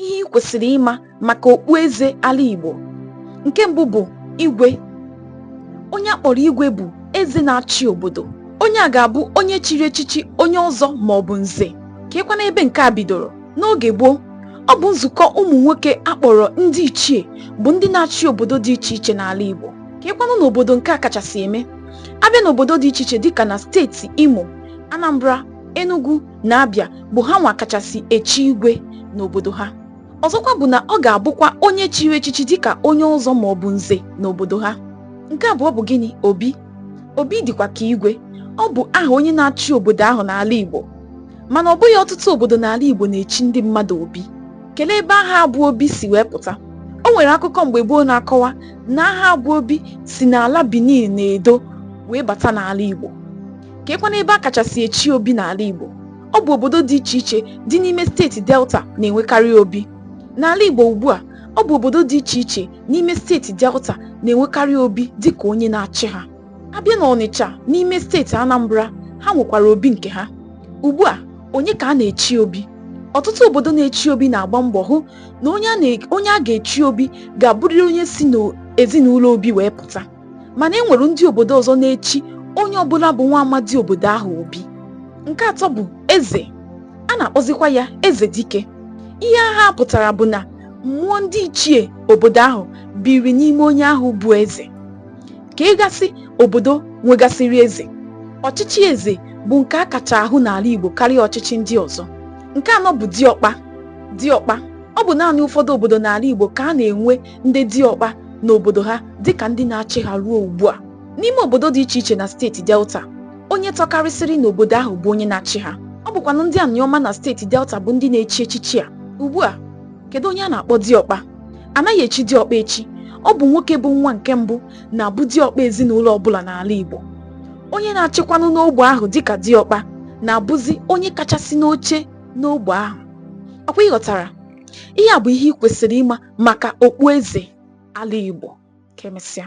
ihe ị kwesịrị ịma maka okpueze ala Igbo nke mbụ bụ igwe onye a kpọrọ igwe bụ eze na-achị obodo onye a ga-abụ onye chiri echichi onye ọzọ ma ọ bụ nze keekwanụ ebe nke a bidoro n'oge gboo ọ bụ nzukọ ụmụ nwoke a kpọrọ ndị ichie bụ ndị na-achị obodo dị iche iche n'ala Igbo keekwanụ n'obodo nke a kachasị eme a bịa n'obodo dị iche iche dịka na steeti Imo Anambra Enugu na Abia bụ ha nwa kachasị echi igwe n'obodo ha ọzọkwa bụ na ọ ga-abụkwa onye chiri echichi dịka onye ọzọ ma ọ bụ nze n'obodo ha nke abụọ bụ gịnị obi obi dịkwa ka igwe ọ bụ aha onye na-achị obodo ahụ n'ala Igbo mana ọ bụghị ọtụtụ obodo n'ala Igbo na-echi ndị mmadụ obi kelee ebe aha a bụ obi si wee pụta o nwere akụkọ mgbe gboo na-akọwa na aha a bụ obi si n'ala Benin na Edo wee bata n'ala Igbo keekwanụ ebe a kachasị echi obi n'ala Igbo ọ bụ obodo dị iche iche dị n'ime steeti Delta na-enwekarị obi n'ala Igbo ugbu a ọ bụ obodo dị iche iche n'ime steeti Delta na-enwekarị obi dị ka onye na-achị ha a bịa n'Ọnịcha n'ime steeti Anambra ha nwekwara obi nke ha ugbu a onye ka a na-echi obi ọtụtụ obodo na-echi obi na-agba mbọ hụ na onye a ga-echi obi ga-abụrịrị onye si n'ezinụlọ obi wee pụta mana e nwere ndị obodo ọzọ na-echi onye ọbụla bụ nwa amadi obodo ahụ obi nke atọ bụ eze a na-akpọzikwa ya eze dike ihe aha a pụtara bụ na mmụọ ndị ichie obodo ahụ biri n'ime onye ahụ bụ eze keegasị obodo nwegasịrị eze ọchịchị eze bụ nke a kacha ahụ n'ala Igbo karịa ọchịchị ndị ọzọ nke anọ bụ diọkpa diọkpa ọ bụ naanị ụfọdụ obodo n'ala Igbo ka a na-enwe ndị diọkpa n'obodo ha dịka ndị na-achị ha ruo ugbu a n'ime obodo dị iche iche na steeti delta onye tọkarịsịrị n'obodo ahụ bụ onye na-achị ha ọ bụkwanụ ndị anịọma na steeti delta bụ ndị na-echi echichi a ugbu a kedu onye a na-akpọ diọkpa anaghị echi diọkpa echi ọ bụ nwoke bụ nwa nke mbụ na-abụ diọkpa ezinụlọ ọbụla n'ala igbo onye na-achịkwanụ n'ogbe ahụ dịka diọkpa na-abụzi onye kachasị n'oche n'ogbe ahụ ọkwa ị ghọtara ihe a bụ ihe ị kwesịrị ịma maka okpueze ala Igbo ka emesịa